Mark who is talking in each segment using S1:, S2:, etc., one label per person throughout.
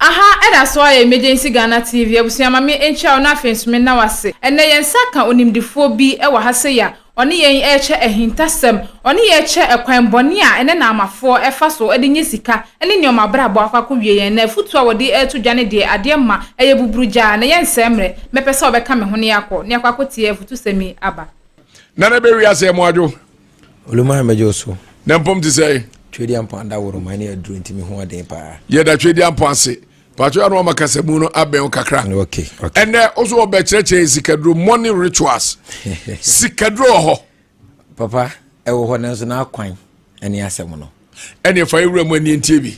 S1: Aha ɛda so ara yɛ Emergency Ghana TV abusua ma me nkyia wo na afei nso me nna wo ase. Ɛnnɛ yɛn nsa aka onimdefoɔ bi wɔ ha sei a ɔne yɛn ɛrekyɛ ahintasɛm, ɔne yɛn ɛrekyɛ ɛkwan bɔne a ɛnnɛ Naamafoɔ ɛfa so de nyɛ sika ɛne nneɛma abrabɔ akɔ akɔ wie yɛn. Na afutuo a wɔde ɛreto dwa ne deɛ adeɛ mma ɛyɛ buburu gyaa na yɛn nsɛe mmerɛ. Mɛpɛ sɛ ɔbɛka me ho ne yɛakɔ ne akɔ akɔ tie afutusɛm yi aba. Nana bɛ
S2: wiase ɛmo adwo. Olumare mɛgye
S3: wo so. Na mpom te sɛ.
S2: Twedi ampɔn adaworoma
S3: ne aduro nti me ho ɔden paa. Yɛda twedi ampɔn
S2: ase. Paatwa no ama kasamu no abɛn wo kakra. Okay, okay. Ɛnɛ
S3: wo so wɔbɛ
S2: kyerɛkyerɛ sikaduro morning rituals. sikaduro wɔ hɔ. Papa,
S3: ɛwɔ hɔ nanso n'akwan ɛne asɛm no. ɛne fa yɛwura mu
S2: ani ntie bi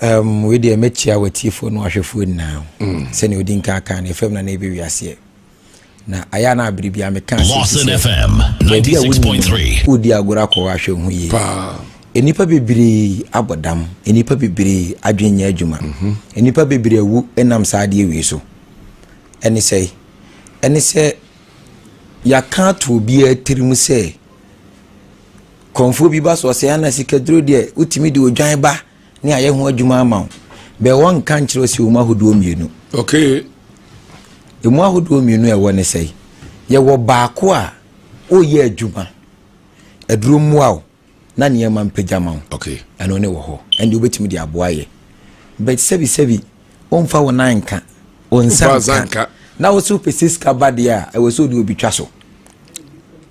S2: um,
S3: wei deɛ mɛkyia watiefoɔ no ahwɛfoɔ nyinaa mm. sɛnea ɔdi nka aka no ɛfam na na ɛbɛwi aseɛ na ayɛ na abere bia meka asɛbaabi
S4: a woni wodi agorɔ akɔwɔ
S3: ahwɛ ho yie nnipa bebree abɔ dam nnipa bebree adwene nyɛ adwuma mhm. nnipa bebree awu nam saa adeɛ wei so ɛne sɛ ɛne sɛ yɛaka ato obiara tirim sɛ Kɔmfoɔ bi ba so ɔsɛ Ana sikaduro deɛ wotumi de odwan ba ne ayɛ ho adwuma ama wo bɛ wɔnka nkyerɛ ɔsi wɔn ahodoɔ mmienu.
S2: Okay.
S3: Emu ahodoɔ mmienu a ɛwɔ ne sɛ yɛwɔ baako a ɔyɛ adwuma aduro mmoa wo na nneɛma mpagya ma wo. Okay. Ɛno ne wɔ
S2: hɔ
S3: ɛnde wobɛtumi de aboa yɛ but sɛbi sɛbi. womfa wo nan nka wo nsa nka na wo so wopɛ sɛ sika ba deɛ a ɛwɔ sɛ wode obi twa so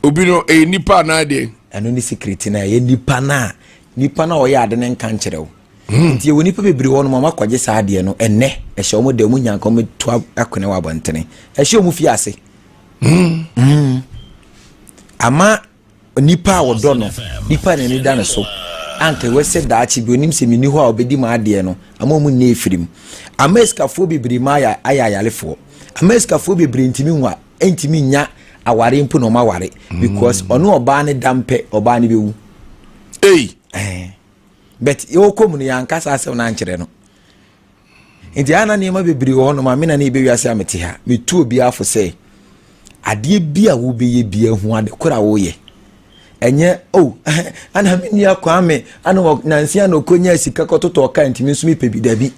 S2: obi no ɛyɛ nipa anaa deɛ ɛno ne secret no
S3: a ɛyɛ nipa no a nipa no a ɔyɛ ade no nka nkyerɛ wo hmm. nti ɛwɔ nipa bebree hɔ no ma makɔgye saa adeɛ no ɛnɛ ɛhyɛ ɔmo da mu nyanka ɔmo to akone wɔ abɔntene ɛhyɛ ɔmo fie ase hmm. Hmm. ama Onipa a wɔdɔ no, nipa a n'ani da ne so, anka ɛwɛ sɛ daakye bi onim sɛ menni hɔ a obedi m'adeɛ no, ama wɔn nni afirim. Amerikafoɔ bebree ma ayɛ ayɛ ayarefoɔ. Amerikafoɔ bebree ntumi nwa, ntumi nya aware mpo na wɔn aware because mm. ɔne ɔbaa ne da mpɛ ɔbaa ne bɛwu. Ei. Eh. But yɛwɔ kɔm no yɛn ankasa asɛm no ankyerɛ no. Enti a na nneɛma bebree wɔ hɔnom a me na na yɛbɛ wiase a mete ha. Metu obiara fo sɛ, adeɛ bi a wobɛyɛ biara hu ade koro a woyɛ. Ɛnyɛ, oh, ana me nua Kwame, ana wɔ nansia na ɔkɔnyaa sika kɔtotɔɔ kaa ntumi nso mepɛ bi dabi.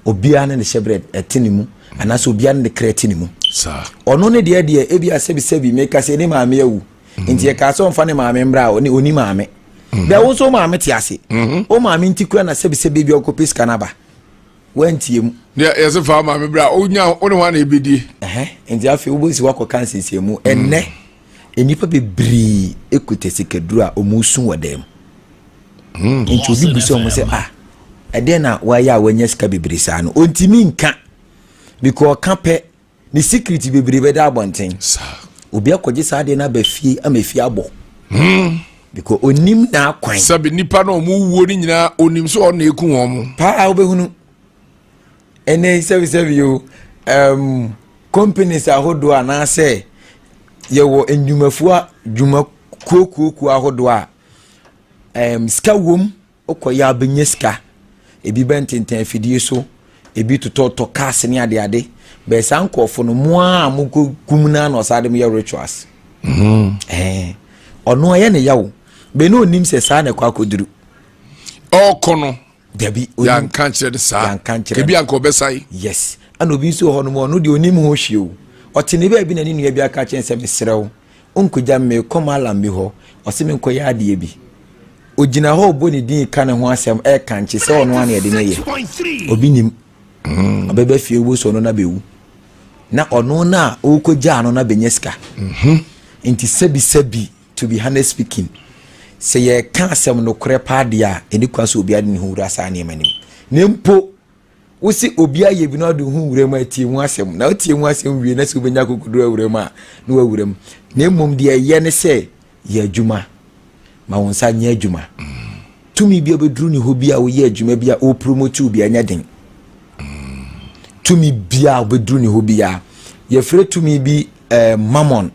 S3: Obiara ne ne hyɛbrɛ ɛte ne mu, anaasɛ obiara ne ne kra te ne mu. Ɔno
S2: ne deɛ deɛ
S3: ebi asɛbisɛbi meka sɛ ne maame awu. mm-hmm. nti yɛkaa sɛ ɔmfa ne maame mmra a ɔne ɔni maame mm-hmm. dɛ wo nso wo maame te ase mm-hmm. wo maame nti kura na sɛbisɛbi bi ɔkɔpɛ sika no aba wantie mu yɛse fa
S2: maame berɛ a wonya wo ne ho ana ɛbɛdie nti afei
S3: wobɛsi woakɔ ka nsiesie mu ɛnnɛ mm. nnipa bebree ɛkuta sikaduru a ɔmusu wɔ dɛm mm. nti obi bu sɛ ɔmo sɛ ah ɛdɛn na wayɛ a wanya sika bebree saa no ɔntumi nka because ɔka pɛ Ne secret bebree bɛda abɔnten. Obi
S2: akɔgye saa
S3: adeɛ no aba fie ama efie abɔ. Hmm. Because onim n'akwan. Sɛbi nipa na wɔn
S2: wuo ne nyinaa onim so ɔna eku wɔn. Paa wobɛhunu.
S3: Ɛnɛ sɛbisɛbi o um, companies ahodoɔ anaasɛ yɛwɔ nnwumafoɔ dwuma kuokuokuo ahodoɔ a um, sika wom. Wokɔyɛ a wobɛnya sika. Ebi bɛntentɛn afidie so, ebi totɔtotɔ cars ne adeade. Bɛɛ saa nkurɔfo no, mo ara a mokɔ kum no ara na ɔsaa de mo yɛ rituals. Mm. Ɛɛ, ɔno ɛyɛ ne yaw. Bɛɛ na onim sɛ saa na ɛkɔ akɔduru. Ɔkɔ
S2: no. Dabi.
S3: Yanka nkyerɛ no
S2: saa. Yanka nkyerɛ no. Ebi anka ɔbɛsae. Yes. Ɛna obi
S3: nso wɔ hɔ nom, ɔno deɛ onim ho hwee o. Ɔte ne baabi na ne nua bi aka kyerɛ sɛ mesrɛ wo. Ɔnkɔgya me, merekɔ Malam bi hɔ, ɔse menkɔyɛ adeɛ bi. Ɔgyina hɔ ɔbɔ ne din reka ne ho asɛm, ɛrekankye sɛ ɔno ara na ɛde no yɛ. Obi nim. Mm. Ɔbɛba fie wo so ɔno na bɛwu. Na ɔno no a ɔrekɔgyaa no na bɛnya sika. Mhm. Nti sɛbisɛbi, to be honest speaking, sɛ yɛreka asɛm nokorɛ paa deɛ a, ɛni kwan sɛ obiara de ne ho wura saa nneɛma no mu. Na mpo. wose obi ayɛ bi na ɔde ho wuram a tie ho asɛm na wotie ho asɛm wie na sɛ wobɛnya akokoduru awuram a na wawuram na mmom deɛ ɛyɛ ne sɛ yɛ adwuma ma wo nsa nyɛ adwuma tumi bi a bɛduru ne hɔ bi a woyɛ adwuma bi a ɔpromotiw bi ɛnyɛ den tumi bi a wobɛduru ne hɔ bi a yɛfrɛ tumi bi eh, mammon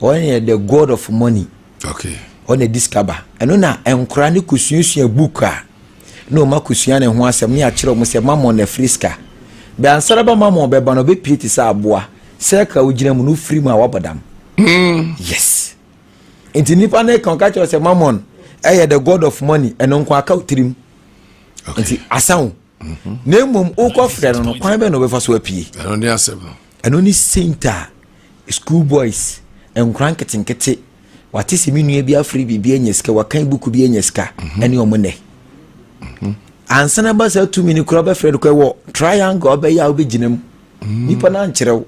S3: ɔne yɛ the god of money okay.
S2: ɔne discover
S3: ɛno na nkora ne kɔsuasua book a na wɔn akosua ne ho asɛm, na yɛakyerɛ wɔn sɛ Mammon na firi sika. Bɛ ansara ba Mammon bɛba no, ɔbɛpire te sɛ aboa, circle a wogyina mu no, wofiri mu a wabɔ dam. Mm. Yes. Nti nipa no ka ɔka kyerɛ sɛ Mammon ɛyɛ the god of money, ɛno nko aka otirim. Nti asan o. Mm-hmm. Na mmom wokɔ frɛ no no, kwan bɛ na ɔbɛfa so apue. Ɛno ne asɛm no.
S2: Ɛno ne saint
S3: a school boys nkora nketenkete wate se me nua bi afere biribi anya sika wakan buku bi anya sika mhm. ɛne ɔmo nɛ mhm. ansana ba saa tumi no kura ɔbɛfrɛ no kɔ ɛwɔ triangle ɔbɛyɛ a ɔbɛgyina mu mhm. nipa no ankyerɛ wo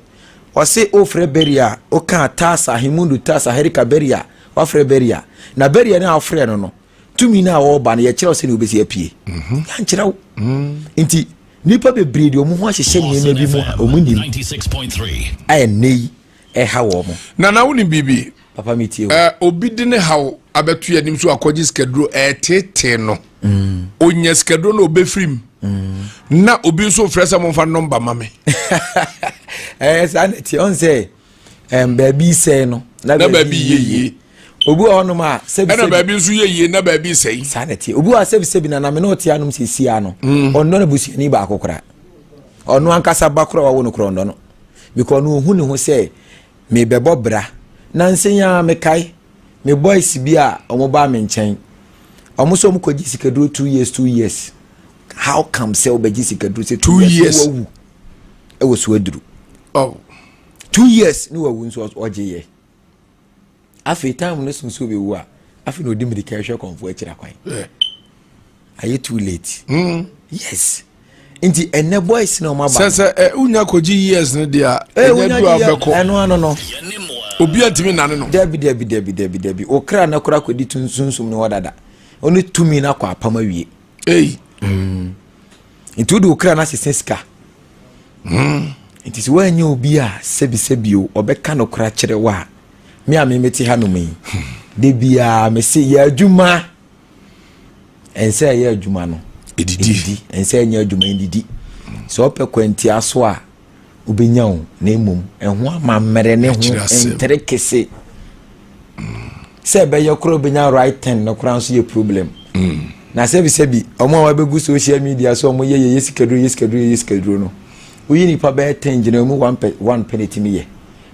S3: ɔse ofrɛ beria a ɔka tasa hemundu tasa herika beria wafrɛ beria na beria no a wofrɛ no no tumi no a wɔreba no yɛkyerɛ wo sɛdeɛ wobɛsi apue mhm. yɛankyerɛ wo mhm. nti nnipa bebree deɛ ɔmo ho ahyehyɛ nneɛma bi mu a ɔmo nim
S4: a ɛnɛ yi
S3: ɛha wɔ mo nana wo ne biribi
S2: papa metie wo eh,
S3: obi de ne haw
S2: abɛto yɛ anim so akɔgye sikaduro ɛtetee eh, no mm. ɔnya sikaduro no ɔbɛfiri mu mm. na obi nso frɛ sɛ momfa nɔmba ma me ɛyɛ eh, saa
S3: ne tiɛ ɔn sɛ ɛn baabi sɛe no na baabi yɛ yie
S2: obi wɔ hɔnom
S3: a sɛbi ɛna baabi nso yɛ yie na
S2: baabi sɛe saa na tie obi wɔ a sɛbi
S3: sɛbi na nam ne ɔte anom sɛ sia no mm. ɔnnɔ no busuani baako kora ɔno ankasa ba kora wawo no kora ɔnnɔ no bikɔ ɔno ohu ne ho sɛ mebɛbɔ bra na nsɛn a mekae me boys bi a wɔn ba me nkyɛn wɔn nso wɔn kɔ gye sikaduro two years two years how come sɛ wɔbɛgye sikaduro sɛ two years wawu ɛwɔ so aduru. Oh. two years ne wawu nso ɔgye yɛ afei time no sunsun bi wu a afei na odi mirika ɛhwɛ kɔnfo akyira kwan ayɛ too late mm. yes nti ɛnɛ boys na ɔmo aba sɛsɛ ɛ unya kogye
S2: years ne deɛ ɛnyɛ du a bɛkɔ ɛno ano no
S3: obi a
S2: ntumi nane no dabi dabi dabi dabi dabi
S3: okra na kora kɔdi tunsunsun ne hɔ dada ɔne tumi na kɔ apam awie. ei mm. nti wode wo kra no asesa sika mm. nti sɛ woanyɛ obi a sɛbisɛbi o ɔbɛka no kora kyerɛ wo a me a memete ha nom yi hmm. da biaa mese yɛ adwuma ɛnsɛ ɛyɛ adwuma no ɛdidi ɛnsɛ ɛnyɛ adwuma ɛdidi sɛ ɔpɛ kwantia so a wobɛnya wo na mmom ɛho amammerɛ ne ho ntere kese sɛ ɛbɛyɛ koraa wobɛnya right ten no koraa nso yɛ problem na sɛbisɛbi ɔmo a wabɛgu social media so ɔmo yɛ yɛyɛ sikaduro yɛ sikaduro yɛyɛ sikaduro no woyi nipa bɛyɛ ten gyina emu one pɛ one pɛ na etimi yɛ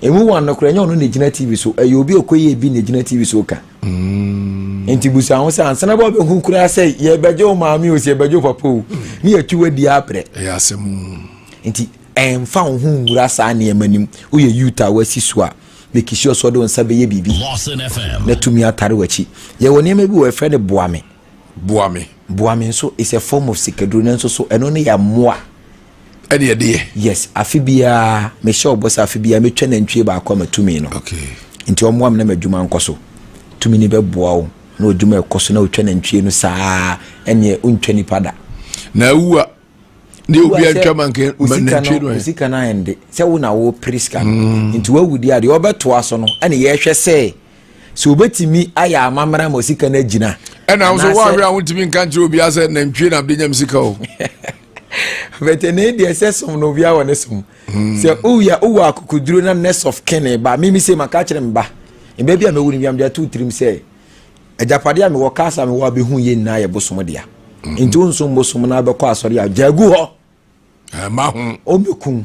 S3: emu one no koraa ɛnyɛ ɔno na egyina tv so ɛyɛ obi okoyɛ ebi na egyina tv so ka mm. nti busa ho sɛ ansana bɛ ɔbɛhu koraa sɛ yɛbɛgye wo maame o sɛ yɛbɛgye wo papa o ne yɛtu wadi abrɛ ɛyɛ asɛm
S2: Enti,
S3: mfa wo ho nwura saa nneɛma no mu. Woyɛ Youth a woasi so a, make sure sɛ ɔde wo nsa bɛyɛ biribi na tumi atare w'akyi. Yɛwɔ nneɛma bi wɔ yɛfrɛ no boa me. Boa me. Boa me nso is a form of sikaduro nanso so ɛno ne yɛ mmoa. Ɛne yɛde
S2: yɛ. Yes, afe biara
S3: mehyɛ ɔbɔ sɛ afe biara metwa nantwie baako ama tumi no. Okay. Nti ɔmmoa
S2: me na
S3: m'adwuma nkɔ so. Tumi no bɛboa wo na ɔdwuma ɛkɔ so na ɔtwa nantwie no saa ɛneɛ wontwa nipa da. Na awu a
S2: ne obi antwa ma nke ma nantwi no ɛ sika no ayɛ nde sɛ
S3: wo na wopere sika no mm. nti woawu di adeɛ wɔbɛtoa so no ɛne yɛhwɛ sɛ sɛ wobɛtumi ayɛ amammerɛ ma sika no agyina ɛna wo so woahwɛ a
S2: wontumi nka nkyerɛ obiaa sɛ nantwie na bɛnyam sika o
S3: bɛtɛne deɛ sɛ som no obiaa wɔ ne som mm. sɛ woyɛ wowɔ akokoduro na nurse of kene ba meme sɛ maka kyerɛ me ba ɛbɛ bi a mɛwu no biam de ato tirim sɛ Agyapadeɛ a mewɔ, cars a mewɔ a bɛhu yɛ nyinaa yɛ bosom dea. Nti wo nsom bosom na wobɛkɔ asɔre a, gyaa gu hɔ. Ɛma ho.
S2: Ɔmmɛkum.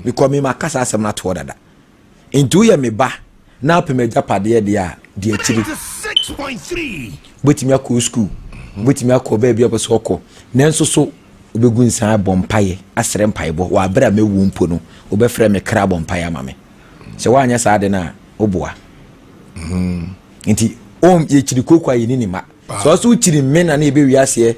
S3: Because me maka saa asɛm no atoɔ dada. Nti woyɛ me ba na apɛ m'agyapadeɛ deɛ a, di akyiri. Wobɛtumi akɔ wo school, wobɛtumi akɔ baabi a wopɛ sɛ ɔkɔ. Nanso so wobɛgu nsa abɔ mpaeɛ asrɛ mpaebɔ wɔ aberɛ a mɛwuo mpo no, wobɛfrɛ me kra abɔ mpaeɛ ama me. Sɛ woanyɛ saa ade no a, woboa. Hmm. Nti wɔn yɛkyiri kooko a yɛni ne ma. Sɛ ɔsɛ wokyiri me na ne yɛbɛ wiaseɛ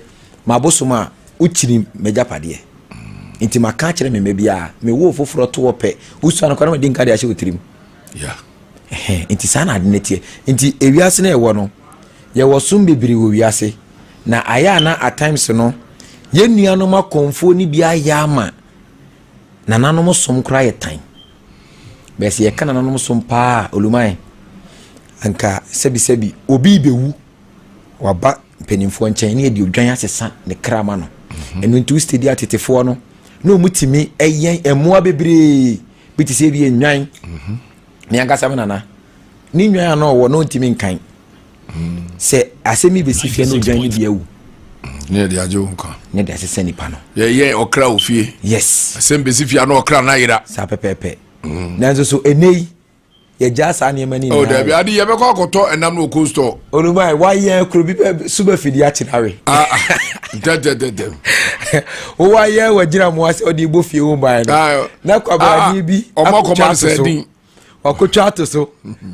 S3: mabosom a wokyiri m'agyapadeɛ. Hmm. Nti maka akyerɛ me mma biara mewoo foforɔ to wɔ pɛ wosua no kora na madi nka de ahyɛ wo tirim. Nti saa na ade no teɛ. Nti ewiase no ɛwɔ no yɛwɔ som bebree wɔ wiase na ayɛ a na at times no yɛn nuanom akɔmfoɔ no bi ayɛ ama Nananom som koraa yɛ tan. Bɛɛ sɛ yɛka nananom som paa a, olumae. Anka sɛbisɛbi obi bewu, waba mpanimfoɔ nkyɛn ne yɛde odwan asesa ne kra ma no. Mhm. Ɛno nti wositedi atetefoɔ no na wɔtumi ɛyɛn mmoa bebree bi te sɛ bi nnwan. Mhm. Me ankasa me nana ne nnwan a na ɔwɔ na ɔntumi nkan sɛ asɛm yi bɛsi fie no dwan no bi awu ne yɛde agye
S2: wo nkwa ne yɛde asesɛ nipa
S3: no yɛyɛ ɔkra wɔ fie
S2: yes asɛm
S3: bɛsi fie ano
S2: ɔkra no
S3: ayera
S2: saa pɛpɛɛpɛ
S3: mm. nanso so
S2: ɛnɛ yi
S3: yɛgyaa saa nneɛma no oh, nyinaa ade yɛbɛkɔ
S2: akɔtɔ ɛnam no ɔkɔ store ɔnuma wayɛ
S3: kuro bi so bɛfidi akyena we ah, ah. ntɛntɛntɛntɛ wowayɛ wagyina mmoa sɛ ɔde bɔ fie wo mbaɛ no ah, na kwabrane bi akɔtwa so
S2: wakɔtwa ato
S3: so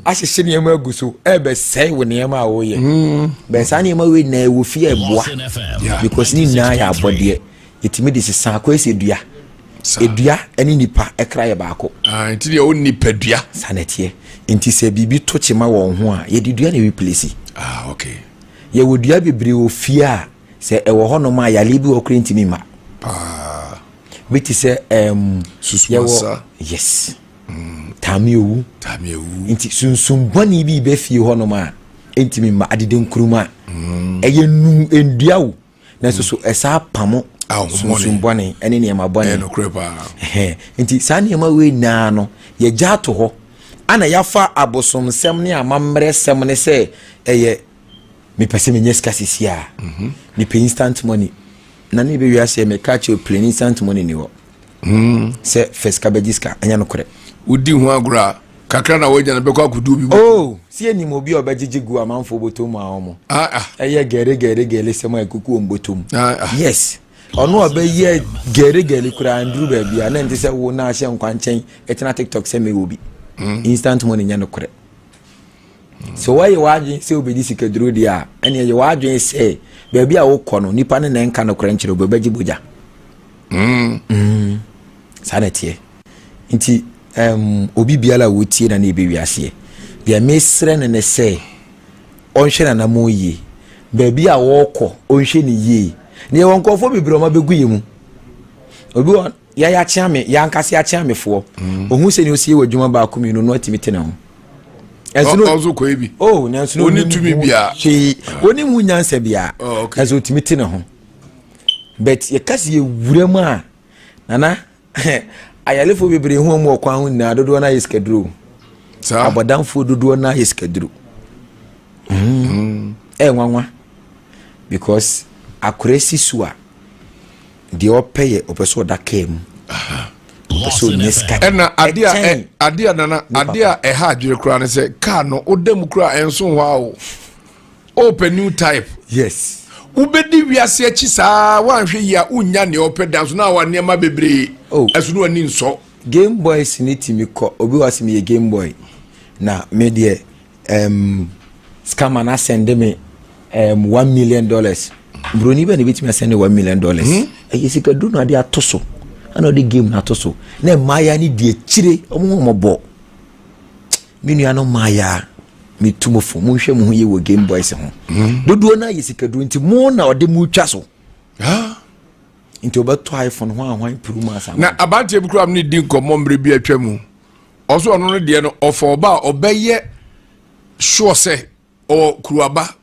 S3: ahyehyɛ nneɛma agu so ɛbɛsɛe wo nneɛma a woyɛ hmm. bɛn saa nneɛma wei nyinaa ɛwɔ fie ɛboa because ne nyinaa yɛ abɔdeɛ ɛtumi de sesa akɔ ɛsɛ dua ɛdua ne nipa ɛkra yɛ baako ah, nti deɛ wo nipa
S2: dua saa na ɛteɛ
S3: nti sɛ biribi to kyema wɔn ho a yɛde dua na ɛreplesi ah,
S2: yɛwɔ dua
S3: bebree wɔ fie a sɛ ɛwɔ hɔnom a yale bi wɔ kora ntumi ma bi te sɛ yɛwɔ
S2: yes
S3: Mm, taa me owu. Taa me owu. Nti sunsum bɔne bi bɛ fie hɔnom a ɛntumi mma adede nkurum a mm. ɛyɛ num nnua o nanso so ɛsaa pamo ah, sunsum bɔne ɛne nneɛma bɔne
S2: nti saa
S3: nneɛma wei nyinaa no yɛgya ato hɔ ana yɛafa abosomsɛm ne amammerɛ sɛm ne sɛ ɛyɛ mepɛ sɛ menyɛ sika sisi a mhm. mepɛ instant money na ne bɛwie aseɛ meka kyerɛ plane instant money ni hɔ Hmm. Sɛ fɛ sika bɛgye sika, ɛnyɛ nokorɛ. Wodi ho agorɔ a,
S2: kakra na woanya no bɛkɔ akɔdu obi mu. Oh, si anim obi
S3: a ɔbɛgyegye gu amanfoɔ bɔtɔ mu a ɔmo. Ah, ah. Ɛyɛ gɛregɛregɛre sɛm a ɛkuku wɔn bɔtɔ mu. Ah, ah. Yes. ɔno a ɔbɛyɛ gɛregɛre koraa nduru baabi a na nte sɛ wo na ahyɛ nkwankyɛn ɛtena tiktok sɛ mewɔ bi. Hmm. Instant money nyɛ nokorɛ. Sɛ woayɛ w'adwene sɛ wobɛdi sikaduro deɛ a, ɛnneɛ yɛ w'adwene sɛ baabi a wokɔ no, nnipa no na ɛnka nokorɛ nkyerɛ obi, ɔbɛgye bogya. Mm. Mm. Saa na ɛteɛ. Nti, um, obi biara a wotie na ne yɛbɛ wiaseɛ. Deɛ mesrɛ no ne sɛ, ɔnhwɛ nanamo yie. Baabi a wɔkɔ, ɔnhwɛ ne yie. Deɛ wɔ nkurɔfoɔ bebree ɔma bɛgu yɛ mu. Obi wɔ Yɛ yɛ akyea me yɛ ankasa yɛ akyea me foɔ. Mm. Ohun sɛ ni osi yɛ wɔ adwuma baako mmienu no atumi te ne ho. Ɛnso no
S2: ɔnso kɔ ebi. Oh nanso no onim
S3: tumi bia. Hwee
S2: onim ho
S3: nyansa bia. Oh okay. Ɛnso otumi te ne ho. But yɛ kasi yɛ wura mu a nana ayalefo bebree ho wɔn wɔ kwan ho nyinaa dodoɔ na yɛ sikaduro. Saa. Abɔdanfoɔ dodoɔ na yɛ sikaduro. Mm. Ɛɛ nwanwa because akora si so a. Deɛ ɔpɛ yɛ ɔpɛ sɛ ɔda kaa mu. Ɔpɛ sɛ ɔnya sika. Ɛna adeɛ a ɛ
S2: adeɛ a nana adeɛ a ɛha adwere koraa ne sɛ kaa no ɔda mu koraa ɛnso hɔ a o. Ɔpɛ new type. Yes.
S3: Wobɛdi
S2: wiase akyi saa woanhwɛ yi a wonnya nea ɔpɛ da nso na awa nneɛma bebree oh. ɛso no ani nsɔ. Game boys ne
S3: tumi kɔ obi wɔ asɛm yɛ game boy na me deɛ Um, scammer na send me um, one million dollars. Broni bɛ na ebetumi asɛnde one million dollars. Hmm? Ɛyɛ sika duro na ɔde ato so, ɛna ɔde game na ato so. Na mmaaya ne di akyire, wɔn ho wɔn bɔ. Me nua no mmaaya me tu mo fo, mo nhwɛ mo ho yie wɔ game boys ho. Hmm? Dodoɔ na yɛ sika duro nti mo na ɔde mo twa so. Ah nti ɔbɛtɔ iphone ho ahwan puru mu asa na aberanteɛ bi kura ne
S2: di nkɔmmɔ mmerɛ bi atwa mu Ɔso ɔno no deɛ no ɔfa ɔba a ɔbɛyɛ sure sɛ ɔwɔ kuruaba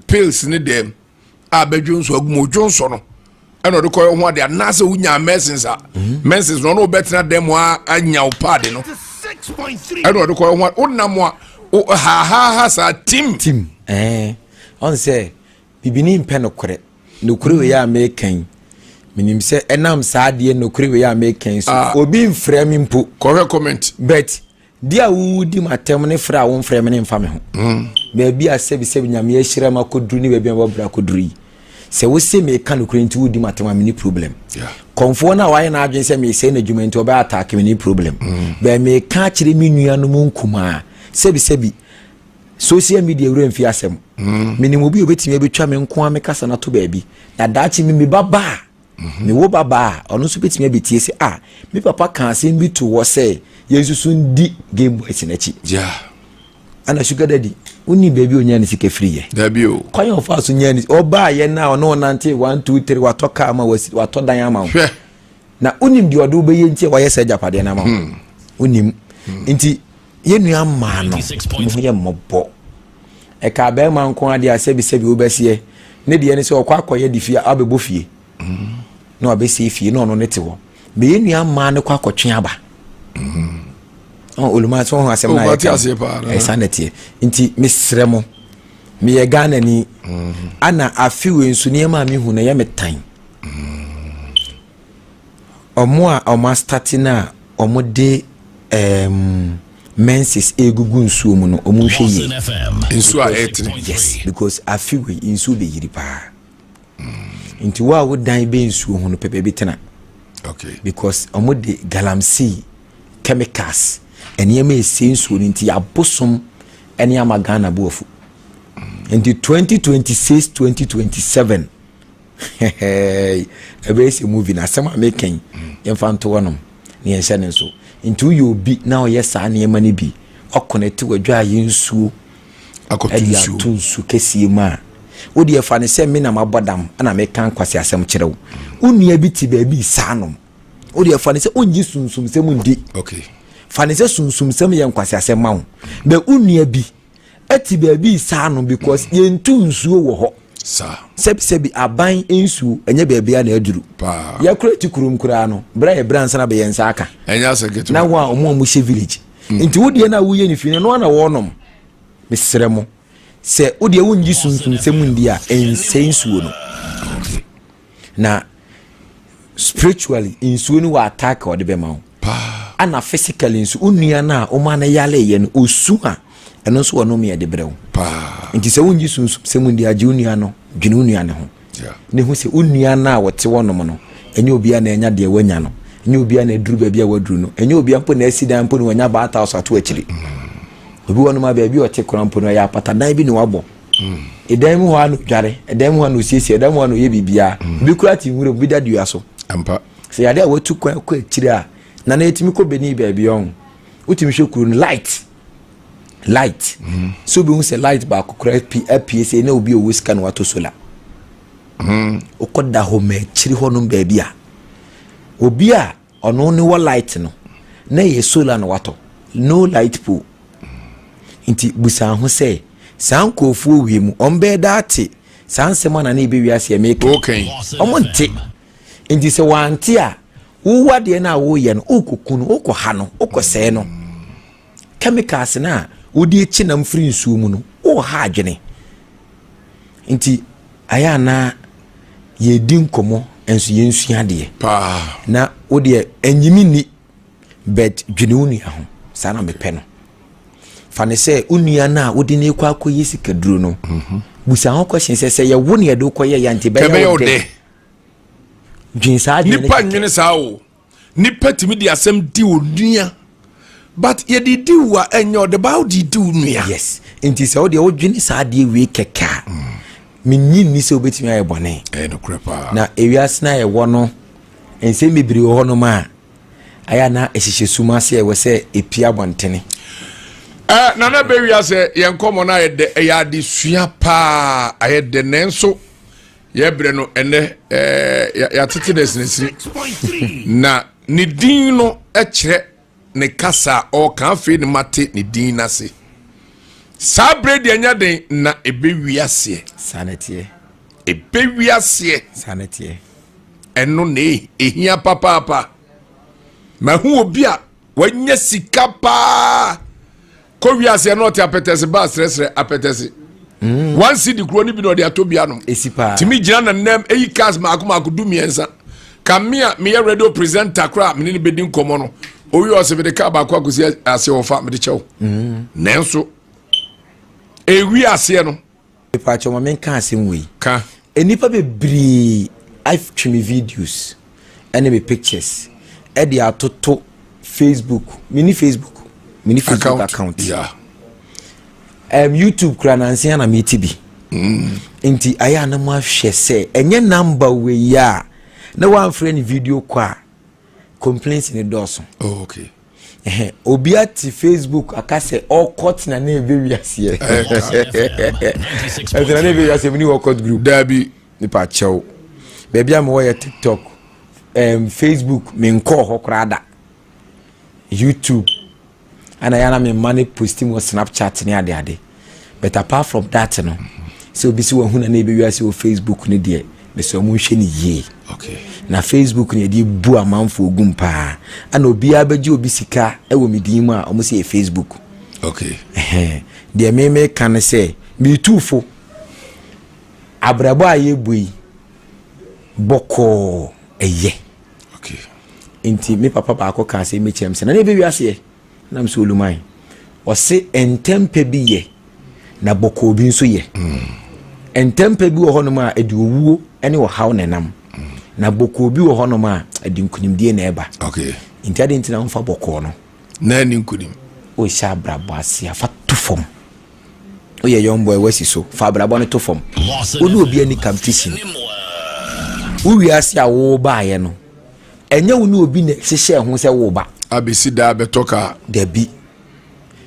S2: pills ne dɛm a bɛdwo nso agum odwo nso no ɛna ɔde kɔyɛ ho ade anaasɛ wonya mɛsins a mɛsins no ɔno ɔbɛtena dɛm a anya wo paade no ɛna ɔde kɔyɛ ho ade wonam a hahaaha saa tim tim ɛɛ
S3: ɔn sɛ Bibini mpɛ nokorɛ. Nokorɛ wei a mereka yi, menim sɛ ɛnam saa adeɛ nokorɛ wei a mereka yi so, ah. obi mfrɛ me mpo. Kɔhwɛ comment.
S2: But di
S3: a wodi m'atɛm ne frɛ a womfrɛ me ne mfa me ho. Mm. Baabi a sɛbisɛbi nyame ahyira m akɔduru ne baabi a mabra akɔduru yi, sɛ wose meka nokorɛ nti wodi m'atɛm a mene problem. Kɔmfoɔ no a wayɛ n'adwene sɛ mesɛe n'adwuma nti ɔbɛyɛ ataake mene problem. Mm. Bɛɛ meka akyerɛ me nuanom nkumaa sɛbisɛbi Social media wura mfi asɛm. Mm. Menim obi obetumi abetwa me nko a me kasa na to baabi. Na daakye me me baba a, mm-hmm. me wo baba a, ɔno nso betumi abetie sɛ ah, me papa ka asɛm bi to hɔ sɛ yɛn nso so ndi Game Boys n'akyi. Yeah. Ana sugar daddy, wonni baabi a onyaa ne sika firi yɛ. Dabi o. Kwan a ɔfa
S2: so nyaa ne sika.
S3: Ɔbaa yɛ na ɔne ɔnante one two three watɔ kaa ma wasi watɔ dan ama wo. Hwɛ. Na wonim deɛ ɔde wobɛyɛ nti a wayɛ sɛ agyapadeɛ no ama wo. Hmm. Wonim. Hmm. Nti Yɛn nua mmaa no, mo ho yɛ mmɔbɔ. Ɛka abɛɛma nko adeɛ a sɛbisɛbi wobɛseɛ. Ne deɛ ne sɛ ɔkɔ akɔyɛ de fie abɛbɔ fie. Mm. Na wabɛsie fie na ɔno ne te hɔ. Na yɛn nua mmaa no kɔ akɔtwe aba. Mm. Oh, oluma so ho asɛm na oh, yɛka. Ɛsa na teɛ. Nti mesrɛ mo. Meyɛ Ghana ni. Mm. Ana afewe nso nneɛma a mehu na ɛyɛ me tan. Mm. Ɔmo a ɔmo astate no a ɔmo de ɛɛm menses egugu nsuo mu no ɔmo nhwɛ yie. Nsuo a
S2: ɛɛtene. Yes because
S3: afe wei nsuo bɛ yiri paa. Mm. Nti wo a wo dan bɛ nsuo ho no pɛ baabi tena. Okay.
S2: Because ɔmo
S3: de galamsey chemicals nneɛma esi nsuo no nti abosom ɛne ama Ghana bo afu. Mm. Nti 2026 2027 Hɛhɛɛi ɛbɛyɛ sɛ movie na asɛm a meka yi yɛmfa nto hɔnom na yɛnhyɛ no nso nti woyɛ obi na ɔyɛ saa nneɛma no bi ɔkɔnɛte wadwaayɛ nsuo ɛde ato nsu kɛseɛ mu a wode ɛfa no sɛ me na mabɔ dam na meka nkwasi asɛm kyerɛ wo wo nua bi te baabi saa nom wode ɛfa no sɛ wongye sunsumsɛm ndi fa
S2: no sɛ
S3: sunsumsɛm yɛ nkwasi asɛm ma wo bɛ wo nua bi ɛte baabi saa no because yɛntu nsuo wɔ hɔ sɛbisɛbi
S2: aban
S3: nsuo ɛnyɛ baabi a na aduru yɛkora ti
S2: kurom
S3: koraa no berɛ a yɛbrɛ ansa na bɛyɛ nsa aka na ho a
S2: ɔmo a mohyɛ
S3: village hmm. nti wodeɛ no a woyɛ no fie no ɛno ana wɔnom mesrɛ mo sɛ wodeɛ wongye sunsumsɛm ndi a ɛnsɛ nsuo no na spiritually nsuo no wɔ attack a ɔde bɛma wo paa. Ana
S2: physically
S3: nso wo nua no a woma no yareeɛ no ɔsu a ɛno nso wɔ nome ɛde brɛ wo paa nti sɛ
S2: wongye sunsum
S3: sɛ mu ndi agye wo nua no dwene wo nua no ho ne ho sɛ wo nua no a wɔte wɔnom no ɛnyɛ obia na ɛnya deɛ wanya no ɛnyɛ obia na ɛduru baabi a waduru no ɛnyɛ obia mpo na asi dan mpo na wanya baata so ato akyiri obi wɔnom a baabi ɔte kora mpo no ɛyɛ apatadan bi na wabɔ ɛdan mu hɔ a na odware ɛdan mu hɔ a na osiesie ɛdan mu hɔ a na oyɛ biribiara mm. ebi kura te nwura mu bi da dua so ampa sɛ yade
S2: a watu
S3: kwan kɔ akyire a na na yɛtumi kɔ bɛni baabi ɔho wotumi hwɛ kuro no light light mm. so obi hu sɛ light baako kura apue sɛ na obi owu sika na wato sola mm. wokɔ da hɔ ma akyiri hɔ nom baabi a obi a Ɔno ne wɔ light no na ɛyɛ solar na watɔ no light pole nti busa ho sɛ saa nkurɔfoɔ wie mu wɔn bɛyɛ daa te saa nsɛm ana na ebe wiase a meka wɔn nte nti sɛ wɔante a wowa deɛ no a woyɛ no wokɔku no wokɔha no wokɔsɛe no Chemicals no a wode kyi nam firi nsuo mu no woha adwene. Nti ayɛ a na yɛdi nkɔmmɔ nso yɛnsua adeɛ. Paa. Na
S2: wo deɛ
S3: ɛnyimi nni but dwene wo nua ho saa na mepɛ no. Fa no sɛ wo nua no a wode no kɔ akɔyɛ sikaduro no mhm. busa ho question sɛ sɛ yɛwo ne yɛde wokɔyɛ yɛ nti bɛyɛ wo dɛ. Dwen saa adwene no kɛkɛ. Nipa nwene saa o.
S2: nipa tumi de asɛm di onua but yɛde di wo a ɛnyɛ ɔde baa wode di wo nua yes nti sɛ
S3: wodeɛ wodwene saa adeɛ wei kɛkɛ a mm. menyi nni sɛ wobɛtumi ayɛ bɔne ɛyɛ nokorɛ paa na
S2: ewiase no a
S3: yɛwɔ no nsɛm bebree wɔ hɔnom a ayɛ na ɛhyehyɛ sum ase ɛwɔ sɛ ɛpia abɔntene eh,
S2: nana bɛwia sɛ yɛn nkɔmmɔ no ayɛ dɛ ɛyɛ adesua paa ayɛ dɛ nanso yɛbrɛ no ɛnɛ ɛɛ yɛatete no asinisini na ne din no kyerɛ ne kasa a ɔreka afei ne mate ne din n'ase saa bere deɛ nya den na ɛbɛwi aseɛ saa na ɛteɛ
S3: ɛbɛwi
S2: aseɛ saa na ɛteɛ
S3: ɛno
S2: na ɛhia papaapa mahu obi a wanya sika paa kɔ wiase ɛna ɔte apɛtɛse ba asrɛsrɛ apɛtɛse mm. one city kuro no bi na ɔde atɔ bi anom tumi gyina na
S3: nam
S2: eyi cars mako mako du mmiɛnsa kamea meyɛ radio presenter koraa mene ne bɛdi nkɔmmɔ no owi ɔsɛ mede kaa baako akɔsi ase ɔfa mede kyɛw mm. nanso ewi aseɛ no Mepakyɛw ma menka
S3: asɛm wei. Ka. Nnipa bebree atwe me videos ne me pictures de atoto Facebook. Mini Facebook. Mini Facebook account. account.
S2: Yeah. Um, YouTube
S3: kura nansi na meti bi. Mm. Nti ayɛ a na mo ahwɛ sɛ ɛnyɛ namba wei a na wɔamfrɛ ne video kɔ a complaints ne dɔɔso. Oh, okay.
S2: Ɛhɛ obi
S3: ate Facebook aka sɛ ɔkɔ tena na ɛbɛ wiase yɛ. Ɛtena na ɛbɛ wiase mu ni ɔkɔ group. Daabi nipa
S2: kyɛw.
S3: Baabi a mewɔ yɛ TikTok, um, Facebook me nkɔɔ hɔ koraa da. YouTube ana yana me mma ne posti mu Snapchat ne ade ade. but apart from that no sɛ obi sɛ wahu na na ɛbɛwi ase wɔ facebook no deɛ mesɛ ɔmo nhwɛ no yie okay. na
S2: facebook no
S3: yɛde bu amanfoɔ gum paa ana obiara bɛgye obi sika wɔ me din mu a ɔmo sɛ yɛ facebook okay.
S2: deɛ
S3: meme ka no sɛ metuufo abrabɔ a yɛbu yi bɔkɔɔ ɛyɛ okay. nti me papa baako kaa sɛ mekyɛm
S2: sɛ na
S3: na ɛbɛwi aseɛ Nam sɛ olumae. Ɔse ntɛmpɛ bi yɛ na bɔkɔɔ bi nso yɛ. Mm. Ntɛmpɛ bi wɔ hɔnom a ɛde owuo ne ɔhaw na ɛnam. Mm. Na bɔkɔɔ bi wɔ hɔnom a ɛde nkunimdie na ɛba. Okay. Nti ade nti
S2: na womfa
S3: bɔkɔɔ no. Na ɛne nkunim.
S2: Wohyɛ abrabɔ
S3: ase afa to fam. Woyɛ young boy wasi so fa abrabɔ no to fam. Wone obi ani kam fishing. Wowie ase a wobaeɛ no. ɛnyɛ wo ne obi na hyehyɛ ho sɛ wo ba. abesi daa bɛtɔ
S2: kaa. dabi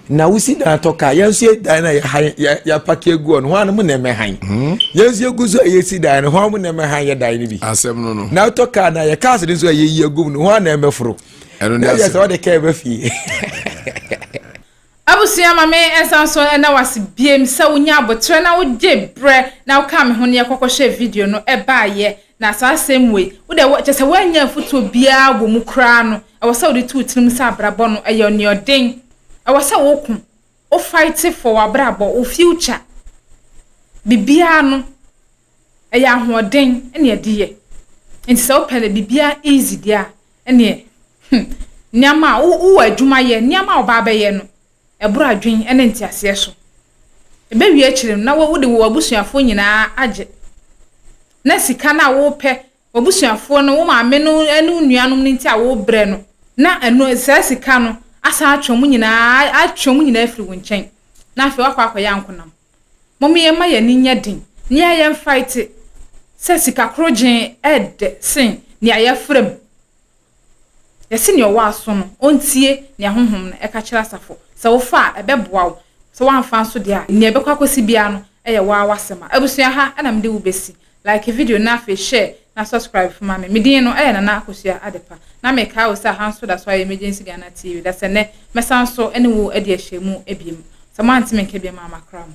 S3: na wosi dan atɔ kaa yɛn nso yɛ dan na yɛhan yɛ yɛapaki egu hɔ no hɔn anam na ɛmɛ han hmm? yɛn nso yɛgu so a yɛsi dan no hɔn na ɛmɛ han yɛ dan no bi asɛm no no na atɔ
S2: kaa na yɛ kaas
S3: no nso a yɛyi agum no hɔn na ɛmɛ foro ɛno ne asɛm na yɛ sɛ ɔde
S2: kaa ɛbɛ fie.
S1: Abusua ma me nsa nso ɛda wo ase biem sɛ wo nya aboterɛ na wo gye brɛ na wo kaa me ho ne yɛ kɔkɔ hwɛ video no ɛbaa yɛ na saa asɛm wei wo deɛ kyɛ sɛ woannya afutuo biaa wɔ mu koraa no ɛwɔ sɛ wode to wo tirim sɛ abrabɔ no ɛyɛ ɔneɔden ɛwɔ sɛ wo ko wo fight for wo abrabɔ wo future bibiaa no ɛyɛ ahoɔden ɛne ɛde yɛ nti sɛ wo pɛ dɛ bibiaa easy deɛ a ɛnneɛ, hmm, nneɛma a wo, wowɔ adwuma yɛ, nneɛma a wobaa bɛyɛ no, ɛboro adwene ne nteaseɛ so. Ɛbɛwie akyire no, na wo, wode w'abusuafoɔ nyinaa agye. Na sika no a wopɛ, w'abusuafoɔ no, wo maame no ne wo nuanom no nti a wobrɛ no, na ɛno, saa sika no asan atwe wɔn nyinaa, atwe wɔn nyinaa afiri wo nkyɛn, na afei woakɔ akɔyɛ ankonam. Mom yɛmma yɛn ani nyɛ den, nea yɛn mfae te sɛ sika korogyenn ɛɛdɛ sen nea yɛafra mu. Yɛse nea ɔwɔ aso no ɔntie nea Honhom no ɛka kyerɛ asafo. Sɛ wofa a, ɛbɛboa wo, sɛ woamfa nso deɛ a, nea ɛbɛkɔ akɔsi biara no ɛyɛ wo ara w'asɛm. Abusua ha na mede wo bɛsi. Like video na afei share na subscribe nso ma me. Me din no ɛyɛ Nana Akosua Adepa na mekae wo sɛ aha nso da so ayɛ Emergency Ghana TV da sɛ nnɛ mɛsan nso ne wo adi ahyɛmu abiem. Sɛ moante me nka biam a makra mo.